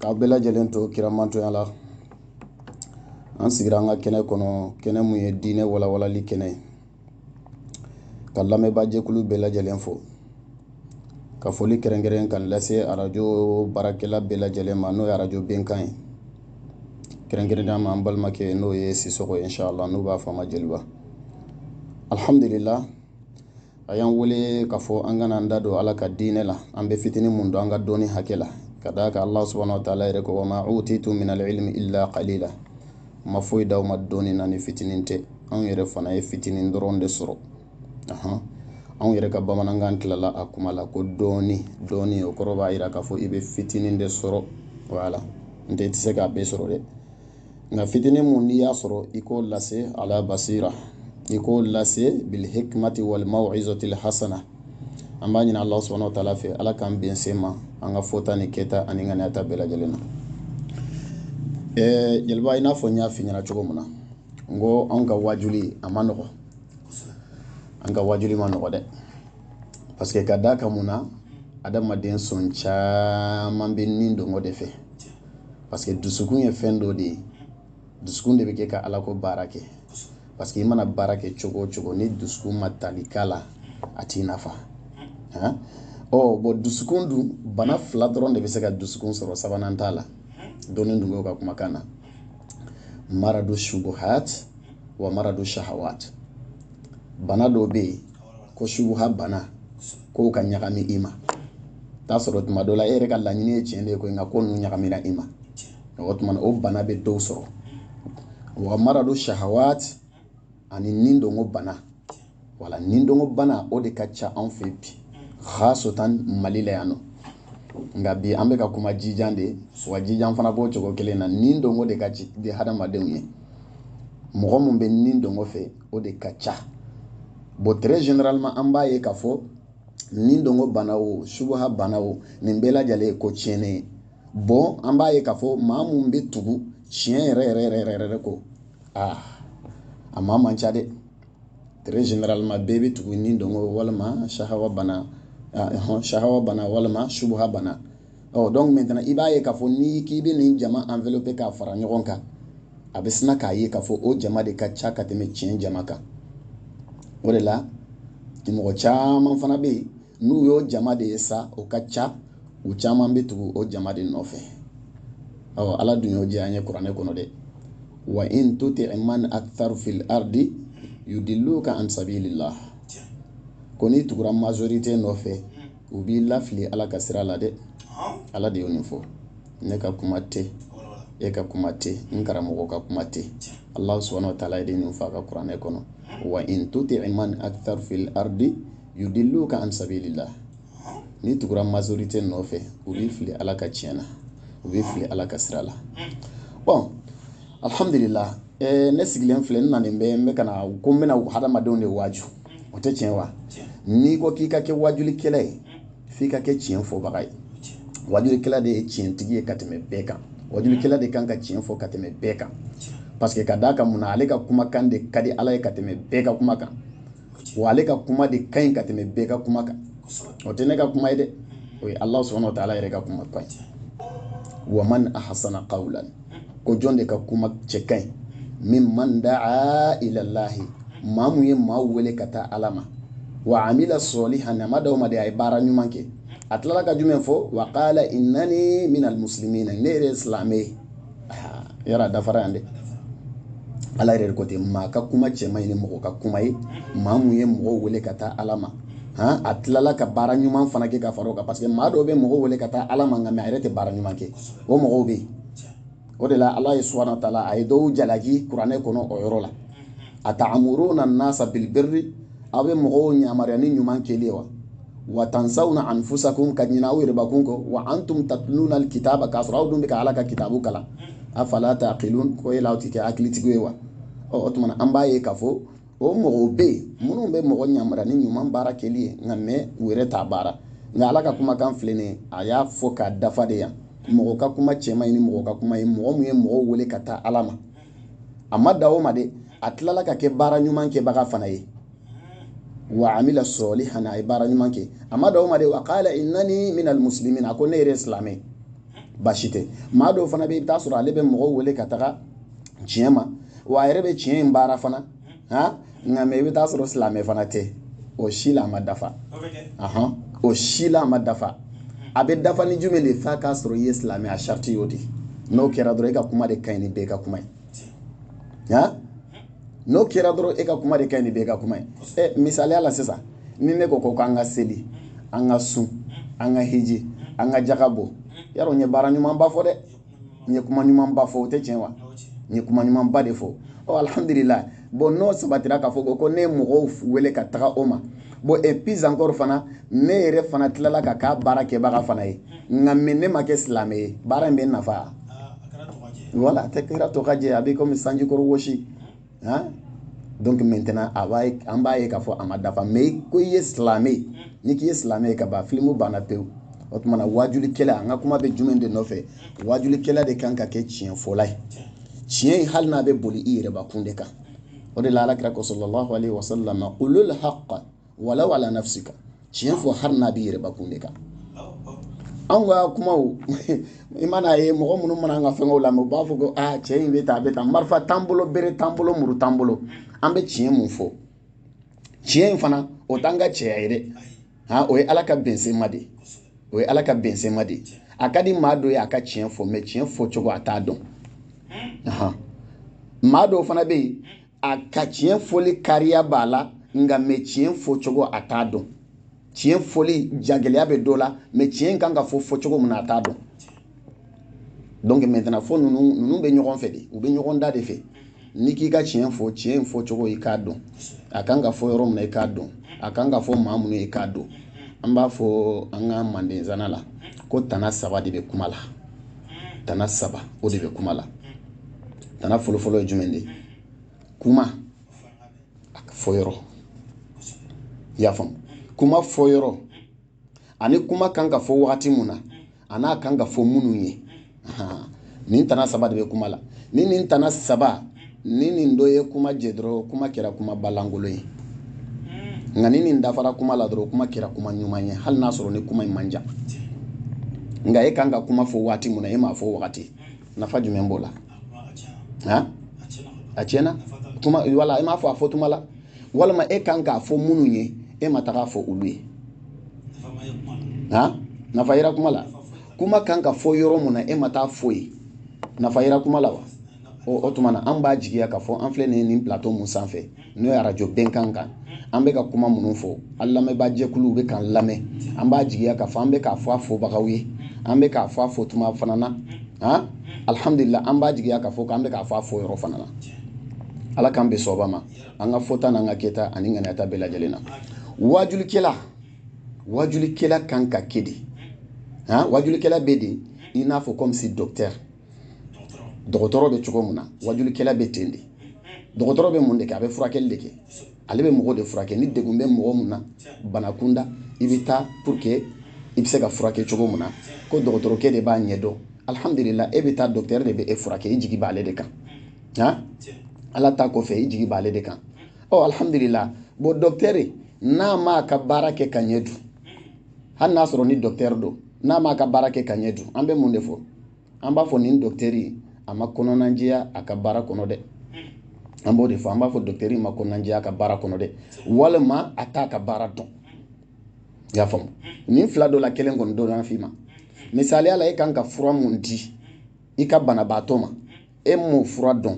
k'aw bɛɛ lajɛlen to kiramantɔya la an sigira an ka kɛnɛ kɔnɔ kɛnɛ mun ye diinɛ walawalali kɛnɛ ye ka lamɛnbaajɛkulu bɛɛ lajɛlen fo ka foli kɛrɛnkɛrɛn k'a lase arajo baarakɛla bɛɛ lajɛlen ma n'o ye arajo bɛnkan ye kɛrɛnkɛrɛnnenya ma an balimakɛ n'o ye sisɔkɔ ye inshallah n'u b'a fɔ a ma jeliba alhamdulillah a y'an wele k'a fɔ an ka na an da don ala ka diinɛ la an bɛ fitini mun dɔn an ka dɔnni hakɛ la ka d'a kan allah subhanahu wa taala yɛrɛ ko wa ma utitum minal ilmi illa qalila ma foyi d'aw ma dɔnni na ni fitinin tɛ anw yɛrɛ fana ye fitinin dɔrɔn de sɔrɔ anw yɛrɛ ka bamanankan tilala a kuma la ko dɔnni dɔɔni o kɔrɔ b'a jira k'a fɔ i bɛ fitinin de sɔrɔ wala n tɛ i tɛ se k'a bɛɛ sɔrɔ dɛ nka fitinin mun n'i y'a sɔrɔ i k'o lase ala basira i k'o lase bilhikmati wal mawizatil hasana an b'a ɲini ala subhanahu wa taala fɛ ala k'an bɛn tiɲɛ ma an ka fɔta ni kɛta ani ŋaniyata bɛɛ lajɛlen na ɛɛ jeliba i n'a fɔ n y'a fɔ i ɲɛna cogo min na n ko anw ka wajuli a ma nɔgɔ an ka wajuli ma nɔgɔ dɛ parce que ka d'a kan mun na adamaden sɔn caman bɛ nidungɔ de fɛ parce que dusukun ye fɛn dɔ de ye dusukun de bɛ kɛ ka ala ko baara kɛ parce que i mana baara kɛ cogo o cogo ni dusukun ma tali k'a la a t'i nafa han ɔ bon dusukun dun bana fila dɔrɔn de bɛ se ka dusukun sɔrɔ sabanan t'a la dɔnnitigiw ka kumakan na maradu shubuhat wa maradu shahawat bana dɔw bɛ yen ko subuha bana kow ka ɲagami i ma k'a sɔrɔ tuma dɔ la e yɛrɛ ka laɲini ye tiɲɛ de ye koyi nka ko ninnu ɲagamira i ma o tuma o bana bɛ dɔw sɔrɔ wa maradu shahawat ani nidungɔ bana wala nidungɔ bana o de ka ca anw fɛ bi khassatan mali la yan nɔ nka bi an bɛ ka kuma jijan de wa jijan fana b'o cogo kelen na nidungɔ de ka di hadamadenw ye mɔgɔ min bɛ nidungɔ fɛ o de ka ca bon très généralement an b'a ye k'a fɔ nidungɔ bana wo subuha bana wo nin bɛɛ lajɛlen ye ko tiɲɛnen ye bon an b'a ye k'a fɔ maa mun bɛ tugu tiɲɛ yɛrɛ yɛrɛ yɛrɛ yɛrɛ yɛrɛ kɔ aa a maa man ca dɛ très généralement bɛɛ bɛ tugu nidungɔ walima sahawa bana sahawa bana walima subuha bana ɔ donc maintenant i b'a ye k'a fɔ n'i k'i bɛ nin jama envelopper k'a fara ɲɔgɔn kan a bɛ sina k'a ye k'a fɔ o jama de ka ca ka tɛmɛ tiɲɛ jama kan o de la mɔgɔ caman fana bɛ yen n'u y'o jama de ye sa o ka ca u caman bɛ tugu o jama de nɔfɛ ɔ ala dun y'o jɛya an ye kuranɛ kɔnɔ dɛ wa in tuti man aktharu fil ardi yudilluka an sabilillah ko n'i tugura majorité nɔfɛ u b'i lafili ala ka sira la dɛ ala de ye nin fɔ ne ka kuma tɛ e ka kuma tɛ n karamɔgɔ ka kuma tɛ ala subuhana wa taala ye de nin f'a ka kuranɛ kɔnɔ wa in tuti man akisara fil aridi yudiluka an sabilila n'i tugura mazorite nɔfɛ u b'i fili ala ka tiɲɛ na u b'i fili ala ka sira la bɔn alhamdulila ne sigilen filɛ n nanen bɛ n bɛ ka na ko n bɛna hadamadenw de waaju o tɛ tiɲɛ wa n'i ko k'i ka kɛ wajulikɛla ye f'i ka kɛ tiɲɛ fɔbaga ye wajulikɛla de ye tiɲɛtigi ye ka tɛmɛ bɛɛ kan wajulikɛla de kan ka tiɲɛ fɔ ka tɛmɛ bɛɛ kan parce que ka d'a kan mun na ale ka kumakan de ka di ala ye ka tɛmɛ bɛɛ ka kuma kan wa ale ka kuma de ka ɲi ka tɛmɛ bɛɛ ka kuma kan o tɛ ne ka kuma ye dɛ o ye ala subuhana wa taala yɛrɛ ka kuma kan wa man ahasanu kawlan ko jɔn de ka kuma cɛ ka ɲi miman daa ilalahi maa mun ye maa wele ka taa ala ma wa amila salihan a ma dan o ma dɛ a ye baara ɲuman kɛ a tilala ka jumɛn fɔ wa kala inani minal musilimina ne yɛrɛ ye silamɛ ye yɔrɔ dafara yan dɛ ala yɛrɛ ko ten maa ka kuma cɛ man ɲi ni mɔgɔ ka kuma ye maa mun ye mɔgɔw wele ka taa ala ma han a tilala ka baara ɲuman fana kɛ ka fara o kan parce que maa dɔw bɛ mɔgɔw wele ka taa ala ma nka mais a yɛrɛ tɛ baara ɲuman kɛ o mɔgɔw bɛ yen o de la ala subuhana wa taala ye dɔw jalaki kuranɛ kɔnɔ o yɔrɔ la a taamuruna nasa bil biri aw bɛ mɔgɔw yamaruya ni ɲuman kɛli ye wa wa tansawna anfusakum ka ɲina aw yɛrɛbakun kɔ wa antum tatuluna kitaba k'a sɔrɔ aw dun bɛ ka ala ka kitabu kalan afala taakilun ko e aw tɛ kɛ hakilitigi ye wa ɔ o tuma an b'a ye k'a fɔ o mɔgɔw bɛ yen minnu bɛ mɔgɔ yamaruya ni ɲuman baara kɛli ye nka mais u yɛrɛ t'a baara nka ala ka kumakan filɛ nin a y'a fɔ k'a dafa dɛ yan mɔgɔ ka kuma cɛ man ɲi ni mɔgɔ ka kuma ye mɔgɔ min ye mɔgɔw wele ka taa ala ma a ma dan o ma dɛ a tilala ka kɛ baara ɲuman kɛbaga fana ye wa amila salihan a ye baara ɲuman kɛ a ma dan o ma dɛ wa kala inani minal musilimina a ko ne yɛrɛ ye silamɛ ye baasi tɛ maa dɔw fana bɛ i bɛ t'a sɔrɔ ale bɛ mɔgɔw wele ka taga tiɲɛ ma wa a yɛrɛ bɛ tiɲɛ in baara fana han nka mais i bɛ t'a sɔrɔ silamɛ fana tɛ o si la a ma dafa ahɔn o si la a ma dafa a bɛ dafa ni jumɛn de f'a k'a sɔrɔ i ye silamɛ a sariti y'o de n'o kɛra dɔrɔn e ka kuma de ka ɲi ni bɛɛ ka kuma ye ya n'o kɛra dɔrɔn e ka kuma de ka ɲi ni bɛɛ ka kuma ye ɛ misaliya la sisan ni ne ko ko k'an ka seli an ka sun an ka hiji an ka jaka bɔ yarɔ n ye baara ɲumanba fɔ dɛ n ye kuma ɲumanba fɔ o tɛ tiɲɛ wa n ye kuma ɲumanba de fɔ ɔ alihamudulila bon n'o sabatira k'a fɔ ko ne ye mɔgɔw wele ka taga o ma bon et puis encore fana ne yɛrɛ fana tilala ka k'a baara kɛbaga fana ye nka ni ne ma kɛ silamɛ ye baara in bɛ nafa ah, voilà a tɛ kɛra tɔkajɛ a bɛ komi sanjikɔrɔ wɔsi han donc maintenant a b'a ye an b'a ye k'a fɔ a ma dafa mais ko i ye silamɛ ye ni k'i ye silamɛ ye ka ban filimu banna pewu o tuma na waajulikɛla an ka kuma bɛ jumɛn de nɔfɛ waajulikɛla de kan ka kɛ tiɲɛfɔla ye tiɲɛ in hali n'a bɛ boli i yɛrɛbakun de kan o de la ala kira ko sallallahu alaihi wasallam qulul haqqa walaw ala nafsika tiɲɛ fɔ hali n'a bɛ i yɛrɛbakun de kan anw ka kumaw i mana ye mɔgɔ minnu mana an ka fɛnkɛw lamɛn u b'a fɔ ko aa cɛ in bɛ tan a bɛ tan marifa t'an bolo bere t'an bolo muru t'an bolo an bɛ tiɲɛ mun fɔ tiɲɛ in fana o t'an ka cɛya ye dɛ han o ye ala ka bɛnsema de o ye ala ka bɛnsema de a ka di maa dɔ ye a ka tiɲɛ fɔ mais tiɲɛ fɔ cogo a t'a dɔn maa dɔw fana bɛ yen a ka tiɲɛ fɔli kariya b'a la nka mais tiɲɛ fɔ cogo a t'a dɔn tiɲɛ fɔli jagɛlɛya bɛ dɔ la mais tiɲɛ kan ka fɔ fɔ cogo min na a t'a dɔn donc maintenant fo ninnu bɛ ɲɔgɔn fɛ de u bɛ ɲɔgɔn da de fɛ n'i k'i ka tiɲɛ fɔ tiɲɛ in fɔ cogo i k'a dɔn a kan ka fɔ yɔrɔ min na i k'a dɔn a kan ka fɔ maa minnu ye i k'a dɔn an b'a fɔ an ka manden nzana la ko tana saba de bɛ kuma la tana saba o de bɛ kuma la tana fɔlɔfɔlɔ ye jumɛn de kuma a fɔ yɔrɔ i y'a faamu kuma fɔ yɔrɔ ani kuma kan ka fɔ wagati mun na a n'a kan ka fɔ minnu ye nin tana saba de bɛ kuma la ni nin tana saba ni nin dɔ ye kuma jɛ dɔrɔn kuma kɛra kumaba lankolon ye nka ni nin dafara kuma la dɔrɔn kuma kɛra kuma ɲuman ye hali n'a sɔrɔ ni kuma in man jan nka e kan ka kuma fɔ waati mun na e m'a fɔ o wagati nafa jumɛn b'o la a tiɲɛna kuma wala e m'a fɔ a fɔ tuma la walima e kan k'a fɔ minnu ye e ma taga fɔ olu ye ha nafa yera kuma la kuma kan ka fɔ yɔrɔ mun na e ma taa fɔ yen nafa yera kuma la wa o tuma na an b'a jigiya k'a fɔ an filɛ nin ye nin plateau mun sanfɛ n'o ye arajo bɛnkan kan an bɛ ka kuma minnu fɔ an lamɛnbaa jɛkuluw bɛ k'an lamɛn an b'a jigiya k'a fɔ an bɛ k'a fɔ a fɔbagaw ye an bɛ k'a fɔ a fɔ tuma fana na han alihamudulila an b'a jigiya k'a fɔ k'an bɛ k'a fɔ a fɔ yɔrɔ fana na ala k'an bɛn sawaba ma an ka fɔta n'an ka kɛta n'an ŋaniyata bɛɛ lajɛlen na wajulikɛla wajulikɛla kan ka kɛ de han wajulikɛla bɛ de i n'a fɔ comme si docteur dɔgɔtɔrɔ bɛ cogo min na wajulikɛla bɛ ten de dɔgɔtɔrɔ bɛ mun de kɛ a bɛ furakɛli de kɛ ale bɛ mɔgɔ de furakɛ ni degun bɛ mɔgɔ mun na bana kunda i bɛ taa pour que i bɛ se ka furakɛ cogo min na ko dɔgɔtɔrɔkɛ de b'a ɲɛdɔn alhamdulila e bɛ taa docteur de bɛ e furakɛ i jigi b'ale de kan han ala ta kɔfɛ i jigi b'ale de kan ɔ oh, alhamdulila bɔn dɔktɛri n'a m'a ka baara kɛ ka ɲɛ dun hali n'a sɔrɔ ni dɔktɛri don n'a m'a ka baara kɛ ka ɲɛ dun an bɛ mun de fɔ an b'a fɔ nin dɔktɛri a ma kɔnɔnajɛya a ka baara kɔnɔ dɛ an b'o de fɔ an b'a fɔ dɔktɛri ma kɔnɔnajɛya a ka baara kɔnɔ dɛ walima a t'a ka baara dɔn i y'a faamu nin fila dɔ la kelen kɔni bɛna f'i ma misaliya la e kan ka fura mun di i ka banabaatɔ ma e m'o fura dɔn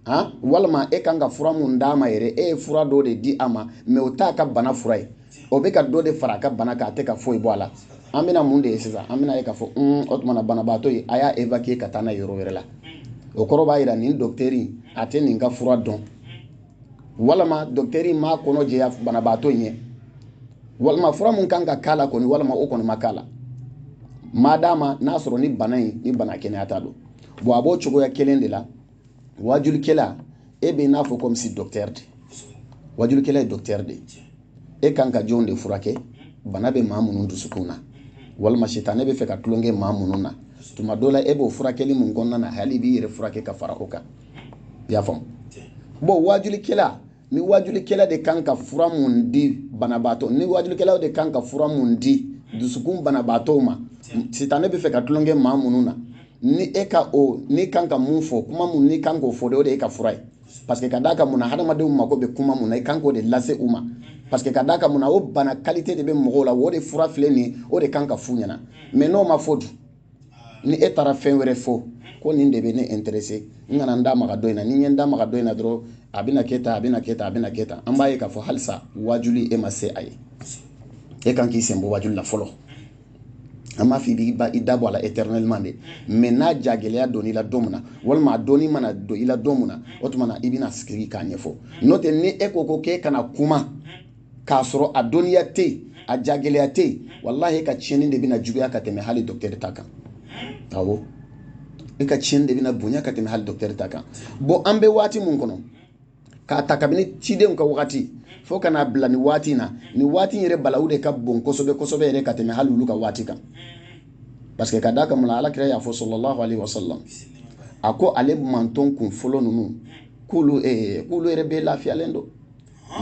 han walima e kan ka fura mun d'a ma yɛrɛ e ye fura dɔ de di a ma mais o t'a ka bana fura ye o bɛ ka dɔ de fara a ka bana kan a tɛ ka foyi bɔ a la an bɛna mun de ye sisan an bɛna ye k'a fɔ un o tuma na banabaatɔ ye a y'a évacuer ka taa n'a ye yɔrɔ wɛrɛ la o kɔrɔ b'a jira nin dɔkitɛri a tɛ nin ka fura dɔn walima dɔkitɛri in m'a kɔnɔ jɛya banabaatɔ in ye walima fura min kan ka k'a la kɔni walima o kɔni ma k'a la maadama n'a sɔrɔ ni bana in ni bana kɛnɛyata don bɔn a b'o cogoya kelen de la wajulikɛla e bɛ n'a fɔ comme si docteur de wajulikɛla ye docteur de e kan ka jɔn de furakɛ bana bɛ maa minnu dusukun na walima sitanɛ bɛ fɛ ka tulonkɛ maa minnu na tuma dɔ la e b'o furakɛli mun kɔnɔna na hali i b'i yɛrɛ furakɛ ka fara o kan i y'a faamu bɔn wajulikɛla ni wajulikɛla de kan ka fura mun di banabaatɔ ni wajulikɛlaw de kan ka fura mun di dusukun banabaatɔw ma sitanɛ bɛ fɛ ka tulonkɛ maa minnu na ni e ka o n'i kan ka mun fɔ kuma mun n'i kan k'o fɔ de o de y'i ka fura ye parce que ka d'a kan mun na hadamadenw mako bɛ kuma mun na i kan k'o de lase u ma parce que ka d'a kan mun na o bana kalite de bɛ mɔgɔw la o de fura filɛ nin ye o de kan ka f'u ɲɛna mais n'o ma fɔ dun ni e taara fɛn wɛrɛ fɔ ko nin de bɛ ne intéresser n kana n da maga dɔ in na ni n ye n da maga dɔ in na dɔrɔn a bɛna kɛ tan a bɛna kɛ tan a bɛna kɛ tan an b'a ye k'a fɔ halisa wajuli e ma se a ye e kan k'i senbɔ wajuli la fɔlɔ an t'a fɔ i b'i ba i da bɔ a la éternellement dɛ mais n'a jagɛlɛya donna i la don min na walima a dɔnni mana don i la don min na o tuma na i bɛna sigi k'a ɲɛfɔ n'o tɛ ni e ko ko k'e ka na kuma k'a sɔrɔ a dɔnniya tɛ yen a jagɛlɛya tɛ yen walahi e ka tiɲɛni de bɛna juguya ka tɛmɛ hali dɔkitɛri ta kan awɔ e ka tiɲɛni de bɛna bonya ka tɛmɛ hali dɔkitɛri ta kan bɔn an bɛ waati min kɔnɔ k'a ta kabini cidenw ka waati fo ka n'a bila nin waati in na nin waati in yɛrɛ bala o de ka bon kosɛbɛ kosɛbɛ yɛrɛ ka tɛmɛ hali olu ka waati kan parce que ka d'a kan mun na ala kira y'a fɔ sallallahu alayhi wa sallam a ko ale mantɔn kun fɔlɔ ninnu k'olu eh, k'olu yɛrɛ bɛɛ lafiyalen don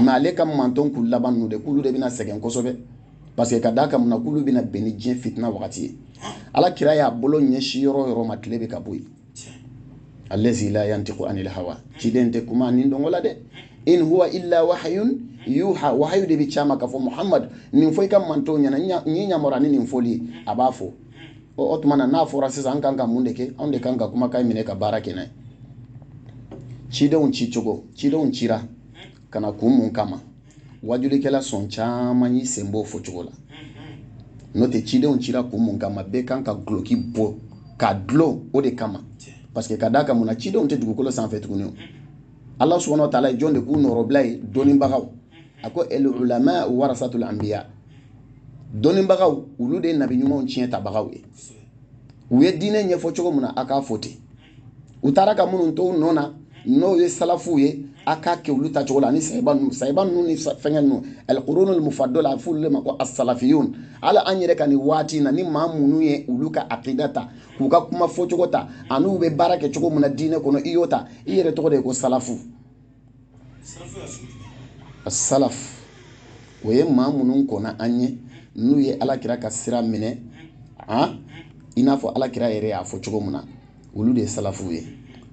nka ale ka mantɔn kun laban ninnu de k'olu de bɛna sɛgɛn kosɛbɛ parce que ka d'a kan mun na k'olu bɛna bɛn ni diɲɛ fitina wagati ye ala kira y'a bolo ɲɛsin yɔrɔ o yɔrɔ ma tile bɛ ka bɔ yen alɛzi la yantiku anil hawa ciden tɛ kuma nidungɔ la dɛ in huwa illa wahayun yuha wahayu de bɛ c'a ma k'a fɔ muhamadu nin fɔ i ka mantɔnw ɲɛna n y'i yamaruya ni nin fɔli ye a b'a fɔ o tuma na n'a fɔra sisan an kan ka mun de kɛ anw de kan ka kumakan minɛ ka baara kɛ n'a ye cidenw ci cogo cidenw cira ka na kun mun kama wajulikɛla sɔn caman y'i sen b'o fɔ cogo la n'o tɛ cidenw cira kun mun kama bɛɛ kan ka guloki bɔ ka dulon o de kama parce que ka d'a kan mun na cidenw tɛ dugukolo sanfɛ tuguni o ala subahana wa taala ye jɔn de k'u nɔrɔbila ye dɔnnibagaw a ko al ulama warasatul anbiya dɔnnibagaw olu de ye nabi ɲumanw ciyɛntabagaw ye u ye diinɛ ɲɛfɔ cogo min na a k'a fɔ ten u taara ka minnu to u nɔ na n'o ye salafuw ye a k'a kɛ olu ta cogo la ani sayiba ninnu sayiba ninnu ni fɛngɛ ninnu alqurunul mufadol a bɛ f'olu de ma ko asalafiyun hali an yɛrɛ ka nin waati in na ni maa minnu ye olu ka akida ta k'u ka kuma fɔcogo ta an'u bɛ baara kɛ cogo min na diinɛ kɔnɔ i y'o ta i yɛrɛ tɔgɔ de ye ko salafu asalaf o ye maa minnu kɔnna an ɲɛ n'u ye alakira ka sira minɛ a i n'a fɔ alakira yɛrɛ y'a fɔ cogo min na olu de ye salafuw ye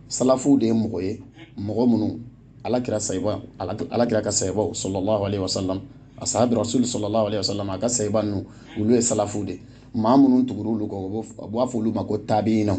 salafuw de ye mɔgɔ ye mɔgɔ minnu alakira sayiba alakira ka sayibaw sallallahu alaihi wasallam asahabi rasul sallallahu alaihi wasallam a ka sayiba ninnu olu ye salafuw de maa minnu tugura olu kɔ u b'a fɔ olu ma ko tabiinaw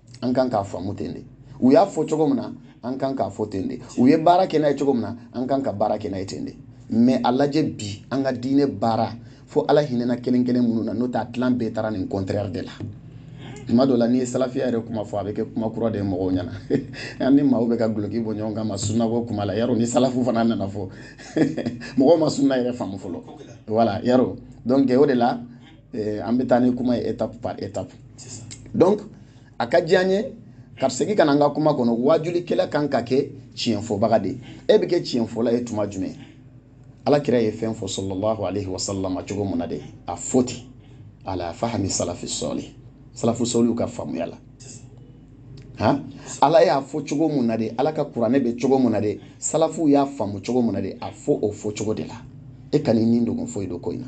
an kan k'a faamu ten de u y'a fɔ cogo min na an kan k'a fɔ ten de u ye baara kɛ n'a ye cogo min na an kan ka baara kɛ n'a ye ten de mɛ a lajɛ bi an ka diinɛ baara fo ala hinɛna kelen kelen minnu na n'o t'a tilan bɛɛ taara nin contraire de la tuma dɔ la n'i ye salafiya yɛrɛ kuma fɔ a bɛ kɛ kuma kura de ye mɔgɔw ɲɛna an ni maaw bɛ ka guloki bɔ ɲɔgɔn kan ma sunnabɔ kuma la yarɔ ni salafu fana nana fɔ mɔgɔw ma sunna yɛrɛ faamu fɔlɔ wala yarɔ donc o de la eh, an bɛ taa ni kuma ye étape par étape donc a ka di an ye ka segin ka na n ka kuma kɔnɔ waajulikɛla kan ka kɛ tiɲɛfɔbaga de ye e bɛ kɛ tiɲɛfɔla ye tuma jumɛn ala kira ye fɛn fɔ sallallahu alayhi wa sallam cogo mun na de a fɔ ten ala fahami salafi solih salafu solihuw ka faamuya la han ala y'a fɔ cogo mun na de ala ka kuranɛ bɛ cogo mun na de salafuw y'a faamu cogo mun na de a fɔ o fɔ cogo de la e kana i nidungɔ foyi don ko in na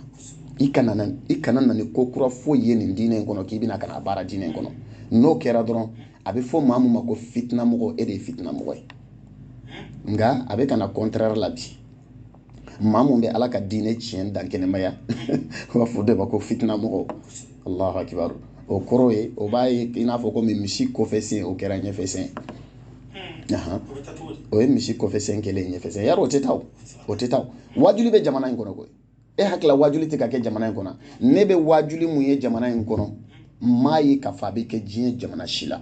i kana na i kana na ni ko kura foyi ye nin diinɛ in kɔnɔ k'i bɛna ka n'a baara diinɛ in kɔnɔ n'o kɛra dɔrɔn a bɛ fɔ maa min ma ko fitinamɔgɔ e de ye fitinamɔgɔ ye nka a bɛ ka na contraire la bi maa mun bɛ ala ka diinɛ tiɲɛ dankɛnɛmaya u b'a f'o de ma ko fitina mɔgɔ allahu akibaru o kɔrɔ ye o b'a ye i n'a fɔ komi misi kɔfɛ sen o kɛra ɲɛfɛ sen hmm. o ye misi kɔfɛ sen kɛlen ɲɛfɛ sen yarɔ o tɛ taa o tɛ taa wajuli bɛ jamana in kɔnɔ koyi e hakili la wajuli tɛ ka kɛ jamana in kɔnɔ ne bɛ wajuli mun ye jamana in kɔnɔ n m'a ye k'a fɔ a bɛ kɛ diɲɛ jamana si la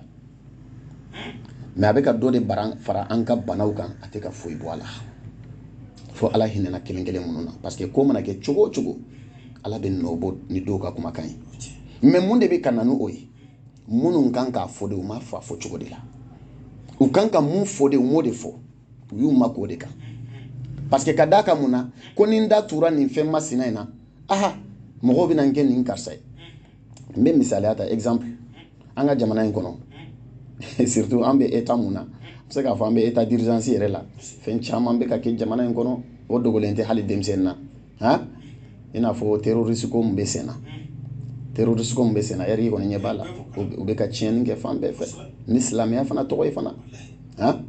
mais a bɛ ka dɔ de fara an ka banaw kan a tɛ ka foyi bɔ a la fo ala hinɛna kelen kelen minnu na parce que ko mana kɛ cogo o cogo ala bɛ nɔ bɔ ni dɔw ka kumakan ye mais mun de bɛ ka na ni o ye minnu kan k'a fɔ de u m'a fɔ a fɔ cogo de la u kan ka mun fɔ de u m'o de fɔ u y'u makun o de kan parce que ka d'a kan mun na ko ni n da tura nin fɛn masina in na aha mɔgɔw bɛna n kɛ nin karisa ye n bɛ misaliya ta exemple an ka jamana in kɔnɔ surtout an bɛ état mun na n bɛ se k'a fɔ an bɛ état d'urgence yɛrɛ la fɛn caman bɛ ka kɛ jamana in kɔnɔ o dogolen tɛ hali denmisɛnnin na han i n'a fɔ terroriste ko min bɛ sen na terroriste ko min bɛ sen na bɛɛ kɔni ɲɛ b'a la u bɛ ka tiɲɛni kɛ fan bɛɛ fɛ ni silamɛya fana tɔgɔ ye fana han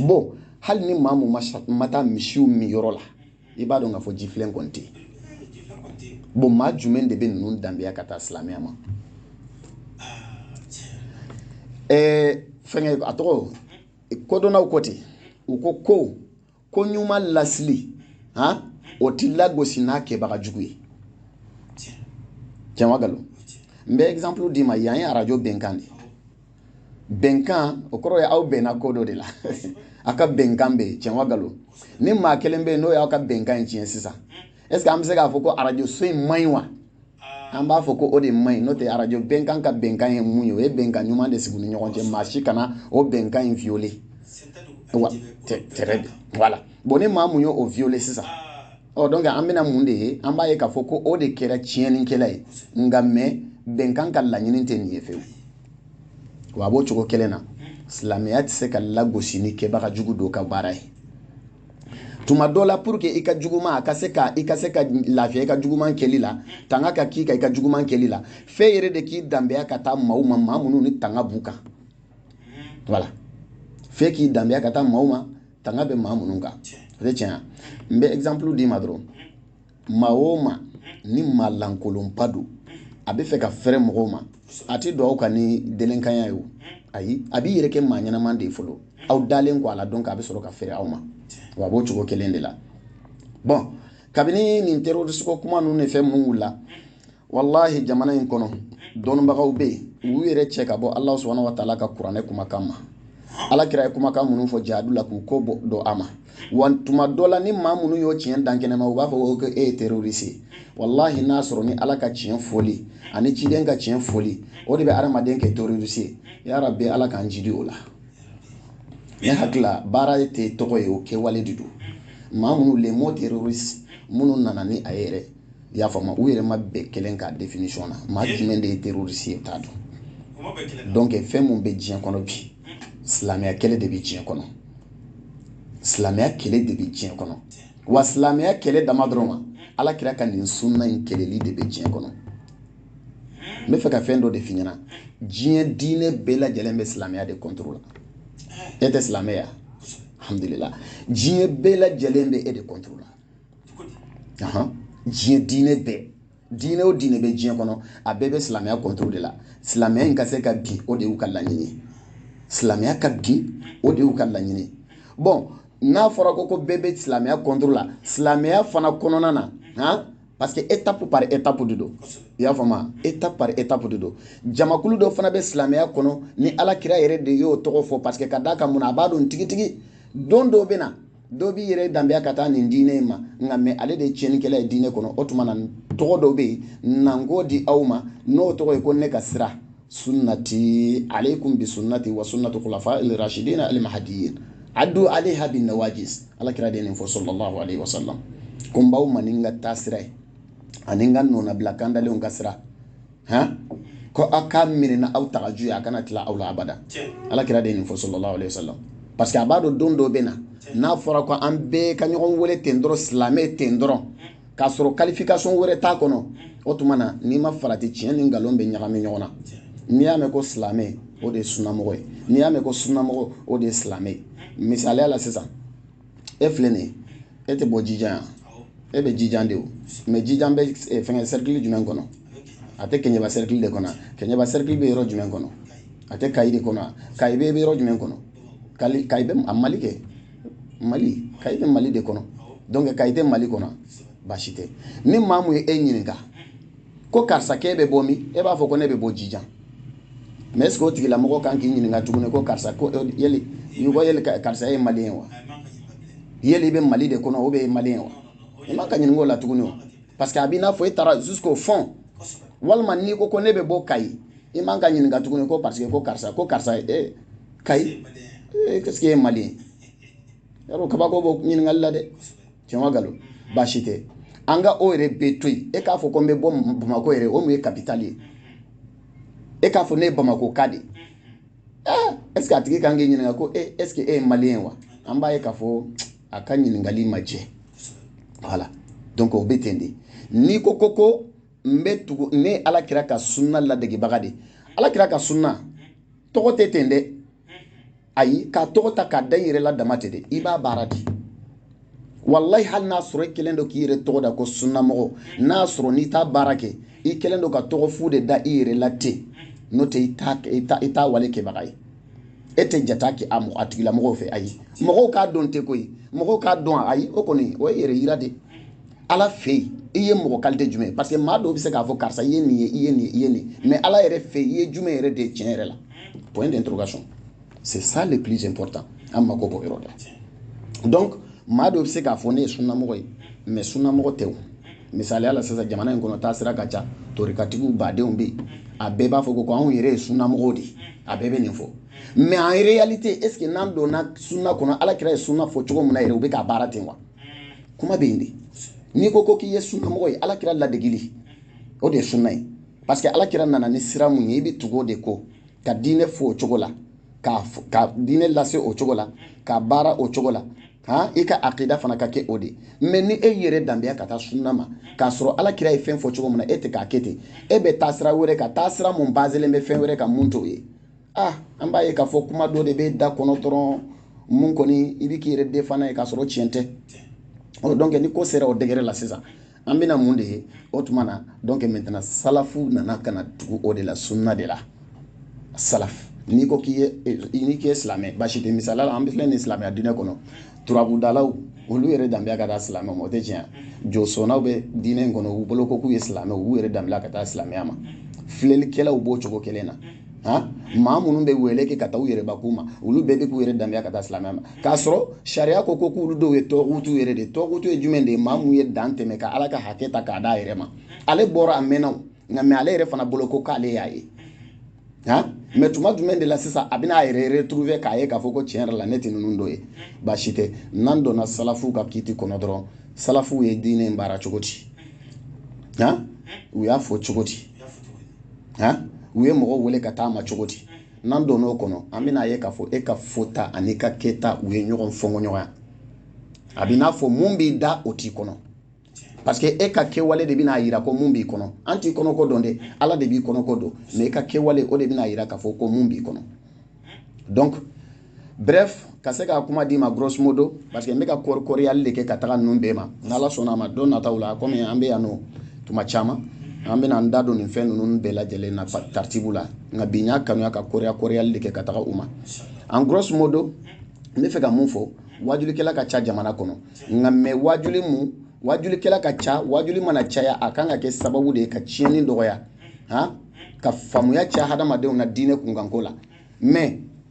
bon hali ni maa mun ma taa misiw min yɔrɔ la i b'a dɔn k'a fɔ jifilen kɔni tɛ bon maa juguman de bɛ ninnu danbeya ka taa silamɛya ma ɛɛ fɛnkɛ a tɔgɔ kodɔnnaw ko ten u ko ko ko ɲuman lasili han o ti lagosi n'a kɛbaga jugu ye tiɲɛ wa nkalon n bɛ exemple d'i ma yan ye arajo bɛnkan de ye bɛnkan o kɔrɔ ye aw bɛnna ko dɔ de la aw ka bɛnkan bɛ yen tiɲɛ wa galo ni maa kelen bɛ yen n'o y'aw ka bɛnkan in tiɲɛ sisan est ce que an bɛ se k'a fɔ ko arajoso in man ɲi wa an b'a fɔ ko o de man ɲi n'o tɛ arajo bɛnkan ka bɛnkan ye mun ye o ye bɛnkan ɲuman de sigi u ni ɲɔgɔn cɛ maa si kana o bɛnkan in violer wa tɛrɛ de voilà bon ni maa mun ye o violer sisan ɔ donc an bɛna mun de ye an b'a ye k'a fɔ ko o de kɛra tiɲɛnikɛla ye nka mais bɛnkan ka laɲini tɛ nin ye fewu wa a b'o cogo kelen na silamɛya tɛ se ka lagosi ni kɛbaga jugu dɔw ka baara ye tuma dɔ la pour que i ka juguman a ka se ka i ka se ka lafiya i ka juguman kɛli la tanga ka k'i ka i ka juguman kɛli la f'i yɛrɛ de k'i danbeya ka taa maaw ma maa minnu ni tanga b'u kan wala f'i k'i danbeya ka taa maaw ma tanga bɛ maa minnu kan o tɛ tiɲɛ n bɛ exemple d'i ma dɔrɔn maa o maa ni maa lankolonba don a bɛ fɛ ka fɛrɛ mɔgɔw ma a tɛ don aw kan ni delenkanya ye o ayi a b'i yɛrɛ kɛ maa ɲɛnama de ye fɔlɔ aw dalen kɔ a la donc a bɛ sɔrɔ ka fɛrɛ aw ma wa a b'o cogo kelen de la bon kabini nin terroriste ko kuma ninnu de fɛn minnu wulila walahi jamana in kɔnɔ dɔnnibagaw bɛ yen u yɛrɛ cɛ ka bɔ ala subahana wa taala ka kuranɛ kumakan ma ala kira ye kumakan minnu fɔ jihadu la k'u ko bɔ dɔ a ma wa tuma dɔ la ni maa minnu y'o tiɲɛ da kɛnɛ ma u b'a fɔ ko e ye terroriste ye walahi n'a sɔrɔ ni ala ka tiɲɛ fɔli ani ciden ka tiɲɛ fɔli o de bɛ adamaden kɛ terroriste ye ya rabbi ala k'an jidi o la ne hakili la baara tɛ tɔgɔ ye o kɛwale de don maa minnu le mot terroriste minnu nana ni a ye yɛrɛ i y'a faamu u yɛrɛ ma bɛn kelen ka définition na maa jumɛn de ye terroriste ye t'a dɔn donc fɛn min bɛ diɲɛ kɔnɔ bi silamɛya kɛlɛ de bɛ diɲɛ kɔnɔ silamɛya kɛlɛ de bɛ diɲɛ kɔnɔ wa silamɛya kɛlɛ dama dɔrɔn ma ala kira ka nin sunna in kɛlɛli de bɛ diɲɛ kɔnɔ n b'a fɛ ka fɛn dɔ de f'i ɲɛna diɲɛ diinɛ bɛɛ lajɛlen bɛ silamɛya de kɔntoro la e tɛ silamɛ ye alhamdulila diɲɛ bɛɛ lajɛlen bɛ e de kɔntoro la diɲɛ diinɛ bɛɛ diinɛ o diinɛ bɛ diɲɛ kɔnɔ a bɛɛ bɛ silamɛya kɔntoro de la silamɛya in ka se ka bin o de y'u ka laɲini silamɛya ka bin o de y'u ka laɲini bon n'a fɔra ko ko bɛɛ bɛ silamɛya kɔntoro la silamɛya fana kɔnɔna na han parce que étape par étape de don i y'a faamuya étape par étape de don jamakulu dɔ fana bɛ silamɛya kɔnɔ ni ala kira yɛrɛ de y'o tɔgɔ fɔ parce que ka d'a kan mun na a b'a dɔn tigitigi don dɔw bɛ na dɔ b'i yɛrɛ danbeya ka taa nin diinɛ in ma nka mais ale de ye tiɲɛnikɛla ye diinɛ kɔnɔ o tuma na tɔgɔ dɔ bɛ yen na n k'o di aw ma n'o tɔgɔ ye ko ne ka sira sunnati alaykum bi sunnati wa sunnatu kulafa rasidina alimahadiye adu alayha bi nawaji ala kira de ye nin fɔ sallallahu alayhi wa sallam ko n b'aw ma ni n ka taasira ye ani n ka nɔnabila kandalenw ka sira hɔn ko aw k'a minɛ n'aw tagaju ye a kana tila aw la abada ala kira de ye nin fɔ sallallahu alaihi wasallam parce que a b'a dɔn don dɔ bɛ na n'a fɔra ko an bɛɛ ka ɲɔgɔn wele ten dɔrɔn silamɛ ten dɔrɔn k'a sɔrɔ qualification wɛrɛ t'a kɔnɔ o tuma na n'i ma farati tiɲɛ ni nkalon bɛ ɲagami ɲɔgɔn na n'i y'a mɛn ko silamɛ o de ye sunamɔgɔ ye n'i y'a mɛn ko sunamɔgɔ o de ye silamɛ ye misaliya la sisan e filɛ nin ye e tɛ bɔ jijan yan e bɛ jijan de o mais jijan bɛ fɛngɛ cercle jumɛn kɔnɔ a tɛ kɛɲɛba cercle de kɔnɔ wa kɛɲɛba cercle bɛ yɔrɔ jumɛn kɔnɔ a tɛ kayi de kɔnɔ wa kayi bɛ yɔrɔ jumɛn kɔnɔ kali kayi bɛ a mali kɛ mali kayi bɛ mali de kɔnɔ donc kayi tɛ mali kɔnɔ wa baasi tɛ ni maa mun ye e ɲininka ko karisa k'e bɛ bɔ min e b'a fɔ ko ne bɛ bɔ jijan mais est ce que o tigilamɔgɔ kan k'i ɲininka tuguni ko karisa ko eh, yeli i ko yeli karisa ye maliyɛn wa yeli i bɛ mali de kɔnɔ o bɛɛ ye maliyɛn wa i man ka ɲininka o la tuguni o parce que a b'i n'a fɔ e taara jusqu'au fond walima n'i ko ko ne bɛ bɔ kayi i man ka ɲininka tuguni ko parce que ko karisa ko karisa e kayi est ce que e ye maliyɛn ye wa kabako b'o ɲininkali la dɛ tiɲɛ ma nkalon baasi tɛ an ka o yɛrɛ bɛɛ to yen e k'a fɔ ko n bɛ bɔ bamakɔ yɛrɛ o mun ye kapitali ye e k'a fɔ ne ye bamakɔka de ye ɛɛ est ce que a tigi kan k'i ɲininka ko e est ce que e ye maliyɛn ye wa an b'a ye k'a fɔ a ka ɲininkali ma jɛ voilà donc o bɛ ten de n'i ko ko ko n bɛ tugu ne ye ala kira ka sunna ladegebaga de ye ala kira ka sunna tɔgɔ tɛ ten dɛ ayi k'a tɔgɔ ta k'a da i yɛrɛ la dama tɛ dɛ i b'a baara de walayi hali n'a sɔrɔ i kɛlen don k'i yɛrɛ tɔgɔ da ko sunnamɔgɔ n'a sɔrɔ n'i t'a baara kɛ i kɛlen don ka tɔgɔ fu de da i yɛrɛ la ten n'o tɛ i t'a wale kɛbaga ye e tɛ jate kɛ a mɔgɔ a tigilamɔgɔw fɛ ayi mɔgɔw k'a dɔn tɛ koyi mɔgɔw k'a dɔn ayi o kɔni o ye yɛrɛ yira de ala fɛ yen i ye mɔgɔ kalite jumɛn ye parce que maa dɔw bɛ se k'a fɔ karisa i ye nin ye i ye nin i ye nin mais ala yɛrɛ fɛ i ye jumɛn yɛrɛ de ye tiɲɛ yɛrɛ la point d'interrogation c'est ça le plus important an mako b'o yɔrɔ de donc maa dɔ bɛ se k'a fɔ ne ye sunnamɔgɔ ye mais sunnamɔgɔ tɛ o misaliya la sisan jamana in kɔnɔ taasira ka ca torikatigi badenw bɛ yen a bɛɛ b'a fɔ ko ko anw yɛrɛ ye sunnamɔgɔw de ye a bɛɛ bɛ nin fɔ mais en réalité est ce que n'an donna sunna kɔnɔ ala kira ye sunna fɔ cogo min na yɛrɛ u bɛ k'a baara ten wa kuma bɛ yen de n'i ko ko k'i ye sunnamɔgɔ ye ala kira ladegili o de ye sunna ye parce que alakira nana ni sira mun ye i bɛ tugu o de kɔ ka diinɛ fɔ o cogo la ka diinɛ lase o cogo la ka baara o cogo la han i ka akida fana ka kɛ o de mais ni e yɛrɛ danbeya ka taa sunna ma k'a sɔrɔ ala kira ye fɛn fɔ cogo min na e tɛ k'a kɛ ten e bɛ taa sira wɛrɛ ka taa sira mun bazelen bɛ fɛn wɛrɛ kan mun t'o ye ah an b'a ye k'a fɔ kuma dɔ de bɛ da kɔnɔ dɔrɔn mun kɔni i bɛ k'i yɛrɛ defana ye k'a sɔrɔ tiɲɛ tɛ o donc ni ko sera o degré la sisan an bɛna mun de ye o tuma na donc maintenant salafu nana ka na tugu o de la sunna de la salaf n'i ko k'i ye eh, n'i k'i ye silamɛ basi tɛ misaliya la an bɛ filɛ nin silamɛya diinɛ kɔnɔ turabudalaw olu yɛrɛ danbeya ka taa silamɛ ma o tɛ tiɲɛ josɔnnaw bɛ diinɛ in kɔnɔ u bolo ko k'u ye silamɛ u b'u yɛrɛ danbeya ka taa silamɛya ma filɛlikɛlaw b'o cogo kelen na ha maa minnu bɛ wele kɛ ka taa u yɛrɛ bakun ma olu bɛɛ bɛ k'u yɛrɛ danbeya ka taa silamɛya ma k'a sɔrɔ sariya ko ko k'olu dɔw ye tagutu yɛrɛ de tagutu ye jumɛn de ye maa minnu ye dan tɛmɛ ka ala ka hakɛ ta k'a d'a yɛrɛ ma ale bɔra a mɛnna nka mais ale yɛrɛ fana bolo ko k'ale y'a ye ha mais tuma jumɛn de la sisan a bɛna a yɛrɛ retrouver k'a ye k'a fɔ ko tiɲɛ yɛrɛ la ne tɛ ninnu dɔ ye baasi tɛ n'an donna salafuw ka kiti kɔnɔ dɔrɔn salafuw ye diinɛ in baara cogo di ha u y'a fɔ cogo di u ye mɔgɔ wele ka taa a ma cogo di n'an don o kɔnɔ an bɛn'a ye k'a fɔ e ka fɔta ani ka kɛta u ye ɲɔgɔn fɔɲɔgɔnya a b'i n'a fɔ mun b'i da o t'i kɔnɔ parce que e ka kɛwale de bɛn'a yira ko mun b'i kɔnɔ an t'i kɔnɔko dɔn dɛ ala de b'i kɔnɔko dɔn mais e ka kɛwale o de bɛn'a yira k'a fɔ ko mun b'i kɔnɔ donc bref ka se ka kuma d'i ma grosso modo parce que n bɛ ka kɔri kɔriyali de kɛ ka taga ninnu bɛɛ ma n'ala sɔnna a ma don nataw la komi an bɛ yan nɔ tuma caman an bɛna an da don nin fɛn ninnu bɛɛ lajɛlen na taritibu la nka bi n y'a kanuya ka kɔriya kɔriyali de kɛ ka taga u ma en grosso modo n bɛ fɛ ka mun fɔ waajulikɛla ka ca jamana kɔnɔ nka mais waajuli mun waajulikɛla ka ca waajuli mana caya a kan ka kɛ sababu de ye ka tiɲɛni dɔgɔya han ka faamuya caya hadamadenw na diinɛ kunkanko la mɛ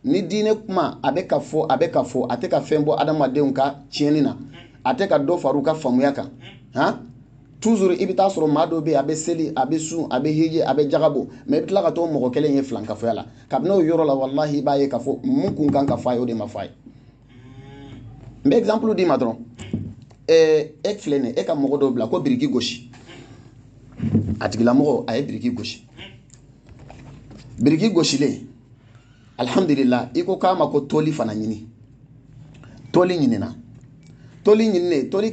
ni diinɛ kuma a bɛ ka fɔ a bɛ ka fɔ a tɛ ka fɛn bɔ hadamadenw ka tiɲɛni na a tɛ ka dɔ fara u ka faamuya kan han tuzuru i bɛ t'a sɔrɔ maa dɔ bɛ yen a bɛ seli a bɛ sun a bɛ hiji a bɛ jaka bɔ mɛ i bɛ tila ka t'o mɔgɔ kelen ye filankafoya la kabini o yɔrɔ la walahi i b'a ye k'a fɔ min kun kan ka fɔ a ye o de ma fɔ a ye n bɛ exemple d'i ma dɔrɔn e filɛ nin ye e ka mɔgɔ dɔw bila ko biriki gosi a tigilamɔgɔ a ye biriki gosi biriki gosilen alihamudulila i ko k'a ma ko toli fana ɲini toli ɲinina toli ɲininen toli